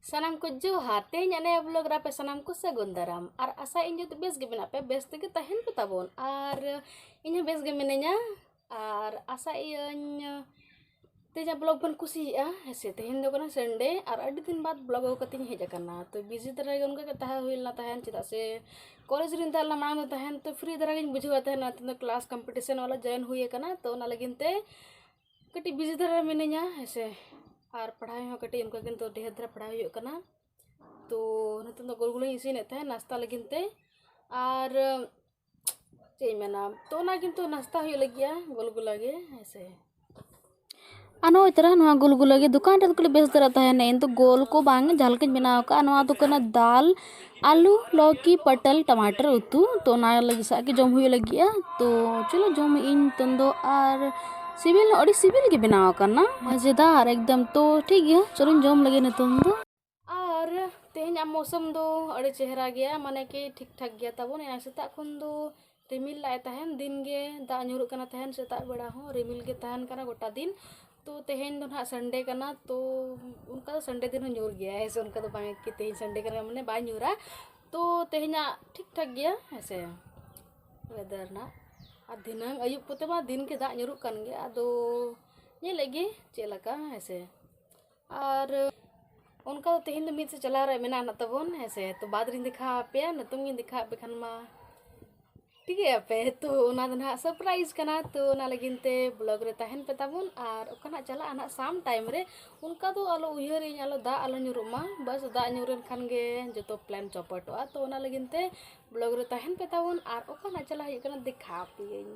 ᱥᱟᱱᱟᱢ ᱠᱚ ᱡᱚᱦᱟᱨ ᱛᱮᱦᱮᱧ ᱟᱞᱮ ᱵᱞᱚᱜ ᱨᱮ ᱟᱯᱮ ᱥᱟᱱᱟᱢ ᱠᱚ ᱥᱟᱹᱜᱩᱱ ᱫᱟᱨᱟᱢ ᱟᱨ ᱟᱥᱟ ᱤᱧ ᱡᱚᱛᱚ ᱵᱮᱥ ᱜᱮ ᱢᱮᱱᱟᱜ ᱯᱮ ᱵᱮᱥ ᱛᱮᱜᱮ ᱛᱟᱦᱮᱱ ᱯᱮ ᱛᱟᱵᱚᱱ ᱟᱨ ᱤᱧ ᱦᱚᱸ ᱵᱮᱥ ᱜᱮ ᱢᱤᱱᱟᱹᱧᱟ ᱟᱨ ᱟᱥᱟ ᱤᱭᱟᱹᱧ ᱛᱮᱦᱮᱧ ᱵᱞᱚᱜ ᱵᱚᱱ ᱠᱩᱥᱤᱭᱟᱜᱼᱟ ᱦᱮᱸᱥᱮ ᱛᱮᱦᱮᱧ ᱫᱚ ᱠᱟᱱᱟ ᱥᱟᱱᱰᱮ ᱟᱨ ᱟᱹᱰᱤ ᱫᱤᱱ ᱵᱟᱫ ᱵᱞᱚᱜ ᱟᱹᱜᱩ ᱠᱟᱛᱮᱧ ᱦᱮᱡ ᱟᱠᱟᱱᱟ ᱛᱚ ᱵᱤᱡᱤ ᱫᱷᱟᱨᱟ ᱜᱮ ᱚᱱᱠᱟ ᱜᱮ ᱛᱟᱦᱮᱸ ᱦᱩᱭ ᱞᱮᱱᱟ ᱛᱟᱦᱮᱱ ᱪᱮᱫᱟᱜ ᱥᱮ ᱠᱚᱞᱮᱡᱽ ᱨᱮᱧ ᱛᱟᱦᱮᱸ ᱞᱮᱱᱟ ᱢᱟᱲᱟᱝ ᱫᱚ ᱛᱟᱦᱮᱱ ᱛᱚ ᱯᱷᱨᱤ ᱫᱷᱟᱨᱟ ᱜᱤᱧ ᱵᱩᱡᱷᱟᱹᱣᱟ ᱛᱟᱦᱮᱱᱟ ᱱᱤᱛᱚᱝ ᱫᱚ ᱠᱞᱟᱥ ᱠᱚᱢᱯᱤᱴᱤᱥᱮᱱ ᱚᱞ ᱡᱚᱭᱮᱱ ᱦᱩᱭ ᱟᱠᱟᱱᱟ ᱛᱚ ᱚᱱᱟ ᱞᱟᱹᱜᱤᱫ ᱛᱮ ᱠᱟᱹᱴᱤᱡ ᱵᱤᱡᱤ ᱫᱷᱟᱨᱟ ᱢᱤᱱᱟᱹᱧᱟ ᱦᱮᱸᱥᱮ ᱟᱨ ᱯᱟᱲᱦᱟᱣ ᱦᱚᱸ ᱠᱟᱹᱴᱤᱡ ᱚᱱᱠᱟ ᱜᱮ ᱱᱤᱛᱚᱜ ᱰᱷᱮᱨ ᱫᱷᱟᱨᱟ ᱯᱟᱲᱦᱟᱣ ᱦᱩᱭᱩᱜ ᱠᱟᱱᱟ ᱛᱚ ᱱᱤᱛᱚᱝ ᱫᱚ ᱜᱳᱞ ᱜᱳᱞᱤᱧ ᱤᱥᱤᱱᱮᱫ ᱛᱟᱦᱮᱸᱫ ᱱᱟᱥᱛᱟ ᱞᱟᱹᱜᱤᱫ ᱛᱮ ᱟᱨ ᱪᱮᱫ ᱤᱧ ᱢᱮᱱᱟ ᱛᱚ ᱚᱱᱟ ᱠᱤᱱᱛᱩ ᱱᱟᱥᱛᱟ ᱦᱩᱭᱩᱜ ᱞᱟᱹᱜᱤᱫᱼᱟ ᱜᱳᱞ ᱜᱳᱞᱟ ᱜᱮ ᱦᱮᱸᱥᱮ ᱟᱨ ᱱᱚᱜᱼᱚᱭ ᱛᱚᱨᱟ ᱱᱚᱣᱟ ᱜᱳᱞ ᱜᱳᱞᱟ ᱜᱮ ᱫᱚᱠᱟᱱ ᱨᱮᱫᱚ ᱠᱟᱹᱴᱤᱡ ᱵᱮᱥ ᱫᱷᱟᱨᱟ ᱛᱟᱦᱮᱱᱟ ᱤᱧ ᱫᱚ ᱜᱳᱞ ᱠᱚ ᱵᱟᱝ ᱡᱟᱦᱟᱸ ᱞᱮᱠᱟᱧ ᱵᱮᱱᱟᱣ ᱠᱟᱜᱼᱟ ᱱᱚᱣᱟ ᱫᱚ ᱠᱟᱱᱟ ᱫᱟᱞ ᱟᱹᱞᱩ ᱞᱟᱹᱣᱠᱤ ᱯᱚᱴᱚᱞ ᱴᱟᱢᱟᱴᱚᱨ ᱩᱛᱩ ᱛᱚ ᱚᱱᱟ ᱞᱟᱹᱜᱤᱫ ᱥᱟᱜ ᱜᱮ ᱡᱚᱢ ᱦᱩᱭᱩᱜ ᱞᱟᱹᱜᱤᱫᱼᱟ ᱛᱚ ᱪᱚᱞᱚ ᱡᱚᱢᱮᱜ ᱟᱹᱧ ᱱᱤᱛᱚᱝ ᱫᱚ ᱟᱨ ᱥᱤᱵᱤᱞ ᱦᱚᱸ ᱟᱹᱰᱤ ᱥᱤᱵᱤᱞ ᱜᱮ ᱵᱮᱱᱟᱣ ᱟᱠᱟᱱᱟ ᱢᱟᱡᱮᱫᱟᱨ ᱮᱠᱫᱚᱢ ᱛᱚ ᱴᱷᱤᱠ ᱜᱮᱭᱟ ᱪᱚᱞᱚᱧ ᱡᱚᱢ ᱞᱮᱜᱮ ᱱᱤᱛᱚᱝ ᱫᱚ ᱟᱨ ᱛᱮᱦᱮᱧᱟᱜ ᱢᱳᱥᱚᱢ ᱫᱚ ᱟᱹᱰᱤ ᱪᱮᱦᱨᱟ ᱜᱮᱭᱟ ᱢᱟᱱᱮ ᱠᱤ ᱴᱷᱤᱠ ᱴᱷᱟᱠ ᱜᱮᱭᱟ ᱛᱟᱵᱚᱱ ᱮᱱᱟᱝ ᱥᱮᱛᱟᱜ ᱠᱷᱚᱱ ᱫᱚ ᱨᱤᱢᱤᱞ ᱞᱮᱫ ᱟᱭ ᱛᱟᱦᱮᱱ ᱫᱤᱱ ᱜᱮ ᱫᱟᱜ ᱧᱩᱨᱩᱜ ᱠᱟᱱᱟ ᱛᱟᱦᱮᱱ ᱥᱮᱛᱟᱜ ᱵᱮᱲᱟ ᱦᱚᱸ ᱨᱤᱢᱤᱞ ᱜᱮ ᱛᱟᱦᱮᱱ ᱠᱟᱱᱟ ᱜᱚᱴᱟ ᱫᱤᱱ ᱛᱚ ᱛᱮᱦᱮᱧ ᱫᱚ ᱱᱟᱦᱟᱸᱜ ᱥᱟᱱᱰᱮ ᱠᱟᱱᱟ ᱛᱚ ᱚᱱᱠᱟ ᱫᱚ ᱥᱟᱱᱰᱮ ᱫᱤᱱ ᱦᱚᱸ ᱧᱩᱨ ᱜᱮᱭᱟᱭ ᱦᱮᱸ ᱥᱮ ᱚᱱᱠᱟ ᱫᱚ ᱵᱟᱝ ᱠᱤ ᱛᱮᱦᱮᱧ ᱥᱟᱱᱰᱮ ᱠᱟᱱᱟ ᱢᱟᱱᱮ ᱵᱟᱭ ᱧᱩᱨᱟ ᱛᱚ ᱛᱮᱦᱮᱧᱟᱜ ᱴᱷᱤᱠ ᱴᱷᱟᱠ ᱜᱮᱭᱟ ᱦᱮᱸ ᱥᱮ ᱚᱭᱮᱫᱟᱨ ᱱᱟᱦᱟᱸᱜ ᱟᱨ ᱫᱷᱤᱱᱟᱹᱝ ᱟᱹᱭᱩᱵ ᱠᱚᱛᱮ ᱢᱟ ᱫᱤᱱ ᱜᱮ ᱫᱟᱜ ᱧᱩᱨᱩᱜ ᱠᱟᱱ ᱜᱮᱭᱟ ᱟᱫᱚ ᱧᱮᱞᱮᱫ ᱜᱮ ᱪᱮᱫ ᱞᱮᱠᱟ ᱦᱮᱸ ᱥᱮ ᱟᱨ ᱚᱱᱠᱟ ᱫᱚ ᱛᱮᱦᱮᱧ ᱫᱚ ᱢᱤᱫ ᱥᱮᱫ ᱪᱟᱞᱟᱣ ᱨᱮ ᱢᱮᱱᱟᱜ ᱱᱟᱜ ᱛᱟᱵᱚᱱ ᱦᱮᱸ ᱥᱮ ᱛᱚ ᱵᱟᱫᱽ ᱨᱤᱧ ᱫᱮᱠᱷᱟᱣ ᱟᱯᱮᱭᱟ ᱱᱤᱛᱚᱝ ᱜᱤᱧ ᱫᱮᱠᱷᱟᱣ ᱟᱯᱮ ᱠᱷᱟᱱ ᱢᱟ ᱴᱷᱤᱠᱟᱹᱭ ᱟᱯᱮ ᱛᱚ ᱚᱱᱟ ᱫᱚ ᱱᱟᱦᱟᱜ ᱥᱟᱨᱯᱨᱟᱭᱤᱡᱽ ᱠᱟᱱᱟ ᱛᱚ ᱚᱱᱟ ᱞᱟᱹᱜᱤᱫ ᱛᱮ ᱵᱞᱚᱜᱽ ᱨᱮ ᱛᱟᱦᱮᱱ ᱯᱮ ᱛᱟᱵᱚᱱ ᱟᱨ ᱚᱠᱟ ᱱᱟᱜ ᱪᱟᱞᱟᱜᱼᱟ ᱱᱟᱜ ᱥᱟᱢ ᱴᱟᱭᱤᱢ ᱨᱮ ᱚᱱᱠᱟ ᱫᱚ ᱟᱞᱚ ᱩᱭᱦᱟᱹᱨᱤᱧ ᱟᱞᱚ ᱫᱟᱜ ᱟᱞᱚ ᱧᱩᱨᱩᱜ ᱢᱟ ᱵᱟᱥ ᱫᱟᱜ ᱧᱩᱨ ᱮᱱ ᱠᱷᱟᱱ ᱜᱮ ᱡᱚᱛᱚ ᱯᱞᱮᱱ ᱪᱚᱯᱚᱴᱚᱜᱼᱟ ᱛᱚ ᱚᱱᱟ ᱞᱟᱹᱜᱤᱫ ᱛᱮ ᱵᱞᱚᱜᱽ ᱨᱮ ᱛᱟᱦᱮᱱ ᱯᱮ ᱛᱟᱵᱚᱱ ᱟᱨ ᱚᱠᱟ ᱱᱟᱜ ᱪᱟᱞᱟᱜ ᱦᱩᱭᱩᱜ ᱠᱟᱱᱟ ᱫᱮᱠᱷᱟᱣ ᱟᱯᱮᱭᱟᱹᱧ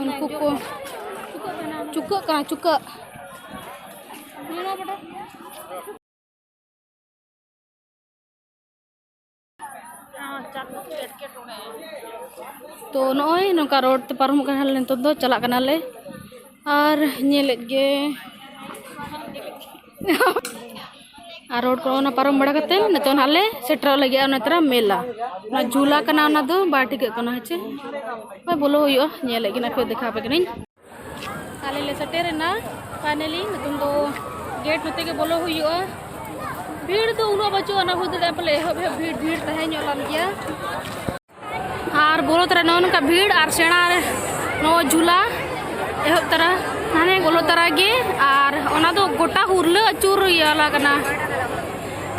ᱩᱱᱠᱩ ᱠᱚ ᱪᱩᱠᱟᱹᱜ ᱠᱟᱱᱟ ᱪᱩᱠᱟᱹᱜ ᱛᱚ ᱱᱚᱜᱼᱚᱭ ᱱᱚᱝᱠᱟ ᱨᱳᱰ ᱛᱮ ᱯᱟᱨᱚᱢᱚᱜ ᱠᱟᱱᱟᱞᱮ ᱱᱤᱛᱚᱜ ᱫᱚ ᱪᱟᱞᱟᱜ ᱠᱟᱱᱟᱞᱮ ᱟᱨ ᱧᱮᱞᱮᱫ ᱜᱮ ᱟᱨ ᱨᱳᱰ ᱠᱚ ᱚᱱᱟ ᱯᱟᱨᱚᱢ ᱵᱟᱲᱟ ᱠᱟᱛᱮ ᱱᱤᱛᱚᱜ ᱱᱟᱦᱟᱜ ᱞᱮ ᱥᱮᱴᱮᱨᱚᱜ ᱞᱟᱹᱜᱤᱫᱼᱟ ᱚᱱᱟ ᱛᱚᱨᱟ ᱢᱮᱞᱟ ᱚᱱᱟ ᱡᱷᱩᱞᱟ ᱠᱟᱱᱟ ᱚᱱᱟ ᱫᱚ ᱵᱟᱭ ᱴᱷᱤᱠᱟᱹᱜ ᱠᱟᱱᱟ ᱦᱮᱸ ᱪᱮ ᱦᱳᱭ ᱵᱚᱞᱚ ᱦᱩᱭᱩᱜᱼᱟ ᱧᱮᱞᱮᱫ ᱠᱤᱱᱟ ᱯᱮ ᱫᱮᱠᱷᱟᱣ ᱟᱯᱮ ᱠᱟᱹᱱᱟᱹᱧ ᱟᱞᱮ ᱞᱮ ᱥᱮᱴᱮᱨᱮᱱᱟ ᱯᱷᱟᱭᱱᱟᱞᱤ ᱱᱤᱛᱚᱝ ᱫᱚ ᱜᱮᱴ ᱱᱚᱛᱮ ᱜᱮ ᱵᱚᱞᱚ ᱦᱩᱭᱩᱜᱼᱟ ᱵᱷᱤᱲ ᱫᱚ ᱩᱱᱟᱹᱜ ᱵᱟᱹᱪᱩᱜᱼᱟ ᱚᱱᱟ ᱦᱩᱭ ᱫᱟᱲᱮᱭᱟᱜᱼᱟ ᱯᱟᱞᱮ ᱮᱦᱚᱵ ᱮᱦᱚᱵ ᱵᱷᱤᱲ ᱵᱷᱤᱲ ᱛᱟᱦᱮᱸ ᱧᱚᱜ ᱞᱮᱱ ᱜᱮᱭᱟ ᱟᱨ ᱵᱚᱞᱚ ᱛᱚᱨᱟ ᱱᱚᱜᱼᱚ ᱱᱚᱝᱠᱟ ᱵᱷᱤᱲ ᱟᱨ ᱥᱮᱬᱟ ᱱᱚᱜᱼᱚᱭ ᱡᱷᱩᱞᱟ ᱮᱦᱚᱵ ᱛᱚᱨᱟ ᱦᱟᱱᱮ ᱵᱚᱞᱚ ᱛᱚᱨᱟ ᱜᱮ ᱟᱨ ᱚᱱᱟ ᱫᱚ ᱜᱚᱴᱟ ᱦᱩᱨᱞᱟᱹ ᱟᱹᱪᱩᱨ ᱤᱭᱟᱹᱞᱟ ᱠᱟᱱᱟ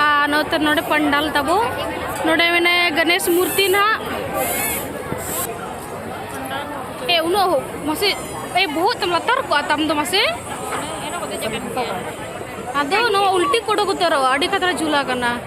ᱟᱨ ᱱᱚᱛᱮ ᱱᱚᱰᱮ ᱯᱟᱱᱰᱟᱞ ᱛᱟᱵᱚ ᱱᱚᱰᱮ ᱢᱮᱱᱟᱭ ᱜᱚᱱᱮᱥ ᱢᱩᱨᱛᱤ ᱱᱟᱜ ᱮ ᱩᱱᱟᱹᱜ ᱢᱟᱥᱮ ᱮ ᱵᱚᱦᱚᱜ ᱛᱟᱢ ᱞᱟᱛᱟᱨ ᱠᱚᱜᱼᱟ ᱛᱟᱢ ᱫᱚ ᱢᱟᱥᱮ ᱟᱫᱚ ᱱᱚᱣᱟ ᱩᱞᱴᱤ ᱠᱚ ᱚᱰᱚᱠ ᱩᱛᱟᱹᱨᱚᱜᱼᱟ ᱟᱹᱰᱤ ᱠᱷᱟᱛᱨᱟ ᱡᱷᱩᱞᱟ ᱠᱟᱱᱟ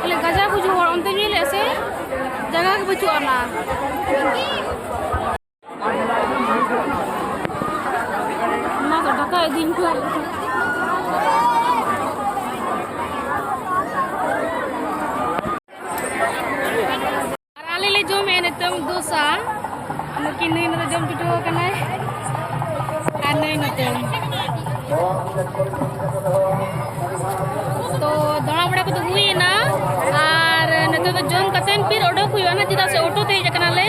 ᱵᱚᱞᱮ ᱜᱟᱡᱟ ᱠᱚ ᱦᱚᱲ ᱚᱱᱛᱮ ᱧᱮᱞ ᱞᱮᱫ ᱥᱮ ᱡᱟᱭᱜᱟ ᱜᱮ ᱵᱟᱹᱪᱩᱜ ᱟᱱᱟ ᱚᱱᱟ ᱫᱚ ᱰᱟᱠᱟ ᱤᱫᱤᱧ ᱠᱚ ᱟᱨ ᱟᱞᱮ ᱞᱮ ᱡᱚᱢᱮᱫᱼᱟ ᱱᱤᱛᱚᱝ ᱫᱳᱥᱟ ᱱᱩᱠᱤᱱ ᱱᱩᱭ ᱱᱚᱛᱮ ᱡᱚᱢ ᱪᱩᱴᱟᱹᱣ ᱟᱠᱟᱱᱟᱭ ᱟᱨ ᱱᱩᱭ ᱱᱚᱛᱮ ᱛᱚ ᱫᱟᱬᱟ ᱵᱟᱲᱟ ᱠᱚᱫᱚ ᱦᱩᱭᱮᱱᱟ ᱟᱨ ᱱᱤᱛᱚᱜ ᱫᱚ ᱡᱚᱢ ᱠᱟᱛᱮᱫ ᱯᱷᱤᱨ ᱚᱰᱚᱠ ᱦᱩᱭᱩᱜᱼᱟ ᱱᱟ ᱪᱮᱫᱟᱜ ᱥᱮ ᱚᱴᱳ ᱛᱮ ᱦᱮᱡ ᱟᱠᱟᱱᱟᱞᱮ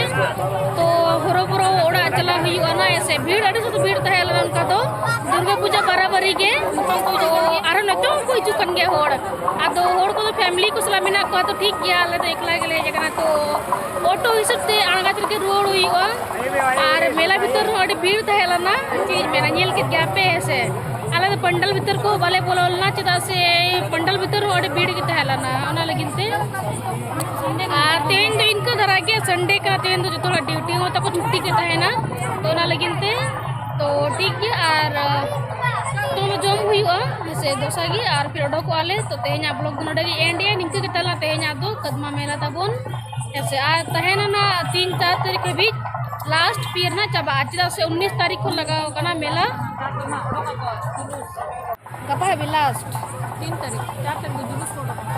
ᱛᱚ ᱦᱚᱨᱚ ᱵᱚᱨᱚ ᱚᱲᱟᱜ ᱪᱟᱞᱟᱣ ᱦᱩᱭᱩᱜᱼᱟ ᱱᱟ ᱥᱮ ᱵᱷᱤᱲ ᱟᱹᱰᱤ ᱥᱟᱛᱮ ᱵᱷᱤᱲ ᱛᱟᱦᱮᱸ ᱞᱮᱱᱟ ᱚᱱᱠᱟ ᱫᱚ ᱫᱩᱨᱜᱟᱹ ᱯᱩᱡᱟᱹ ᱵᱟᱨᱟᱵᱟᱨᱤ ᱜᱮ ᱱᱤᱛᱚᱝ ᱠᱚ ᱟᱨᱦᱚᱸ ᱱᱤᱛᱚᱝ ᱦᱚᱸᱠᱚ ᱦᱤᱡᱩᱜ ᱠᱟᱱ ᱜᱮᱭᱟ ᱦᱚᱲ ᱟᱫᱚ ᱦᱚᱲ ᱠᱚᱫᱚ ᱯᱷᱮᱢᱤᱞᱤ ᱠᱚ ᱥᱟᱞᱟᱜ ᱢᱮᱱᱟᱜ ᱠᱚᱣᱟ ᱛᱚ ᱴᱷᱤᱠ ᱜᱮᱭᱟ ᱟᱞᱮ ᱫᱚ ᱮᱠᱞᱟ ᱜᱮᱞᱮ ᱦᱮᱡ ᱟᱠᱟᱱᱟ ᱛᱚ ᱚᱴᱳ ᱦᱤᱥᱟᱹᱵ ᱛᱮ ᱟᱬᱜᱟᱛ ᱨᱮᱜᱮ ᱨᱩᱣᱟᱹᱲ ᱦᱩᱭᱩᱜᱼᱟ ᱟᱨ ᱢᱮᱞᱟ ᱵᱷᱤᱛᱟᱹᱨ ᱨᱮᱦᱚᱸ ᱟᱹᱰᱤ ᱵᱷᱤᱲ ᱛᱟᱦᱮᱸ ᱞᱮᱱᱟ ᱪᱮᱫ ᱤᱧ ᱢᱮᱱᱟ ᱧᱮᱞ ᱠᱮᱫ ᱜᱮᱭᱟ ᱯᱮ ᱦᱮᱸ ᱥᱮ ᱟᱞᱮ ᱫᱚ ᱯᱟᱱᱰᱟᱞ ᱵᱷᱤᱛᱟᱹᱨ ᱠᱚ ᱵᱟᱞᱮ ᱵᱚᱞᱚ ᱞᱮᱱᱟ ᱪᱮᱫᱟᱜ ᱥᱮ ᱯᱟᱱᱰᱟᱞ ᱵᱷᱤᱛᱟᱹᱨ ᱦᱚᱸ ᱟᱹᱰᱤ ᱵᱷᱤᱲ ᱜᱮ ᱛᱟᱦᱮᱸ ᱞᱮᱱᱟ ᱚᱱᱟ ᱞᱟᱹᱜᱤᱫ ᱛᱮ ᱟᱨ ᱛᱮᱦᱮᱧ ᱫᱚ ᱤᱱᱠᱟᱹ ᱫᱷᱟᱨᱟ ᱜᱮ ᱥᱟᱱᱰᱮ ᱠᱟᱱᱟ ᱛᱮᱦᱮᱧ ᱫᱚ ᱡᱚᱛᱚ ᱦᱚᱲᱟᱜ ᱰᱤᱭᱩᱴᱤ ᱦᱚᱸ ᱛᱟᱠᱚ ᱪᱷᱩᱴᱤ ᱜᱮ ᱛᱟᱦᱮᱱᱟ ᱛᱚ ᱚᱱᱟ ᱞᱟᱹᱜᱤᱫ ᱛᱮ ᱛᱚ ᱴᱷᱤᱠ ᱜᱮᱭᱟ ᱟᱨ ᱛᱚ ᱡᱚᱢ ᱦᱩᱭᱩᱜᱼᱟ ᱥᱮ ᱫᱚᱥᱟ ᱜᱮ ᱟᱨ ᱯᱷᱤᱨ ᱚᱰᱚᱠᱚᱜᱼᱟ ᱞᱮ ᱛᱚ ᱛᱮᱦᱮᱧᱟᱜ ᱵᱞᱚᱜ ᱫᱚ ᱱᱚᱰᱮ ᱜᱮ ᱮᱱᱰ ᱮ ᱱᱤᱝᱠᱟᱹ ᱜᱮ ᱛᱟᱦᱮᱱᱟ ᱛᱮᱦᱮᱧᱟᱜ ᱫᱚ ᱠᱟᱫᱢᱟ ᱢᱮᱞᱟ ᱛᱟᱵᱚᱱ ᱦᱮᱸᱥᱮ ᱟᱨ ᱛᱟᱦᱮᱱᱟ ᱱᱟ ᱛᱤᱱ ᱪᱟᱨ ᱛᱟᱹᱨᱤᱠᱷ ᱦᱟᱹᱵᱤᱡ ᱞᱟᱥᱴ ᱯᱤᱭᱮᱨ ᱱᱟ ᱪᱟᱵᱟᱜᱼᱟ ᱪᱮᱫᱟᱜ ᱥᱮ ᱩᱱᱤᱥ ᱛᱟᱹᱨᱤᱠᱷ ᱠᱷᱚᱱ ᱞᱟᱜᱟᱣ ᱠᱟᱱᱟ ᱢᱮᱞᱟ ᱜᱟᱯᱟ ᱦᱟᱹᱵᱤᱡ ᱞᱟᱥᱴ ᱛᱤᱱ ᱛᱟᱹᱨᱤᱠᱷ ᱪᱟᱨ ᱛᱟᱹᱨᱤᱠᱷ ᱡᱩᱞᱩᱥ ᱠᱚ ᱩᱰᱩᱠᱚᱜᱼᱟ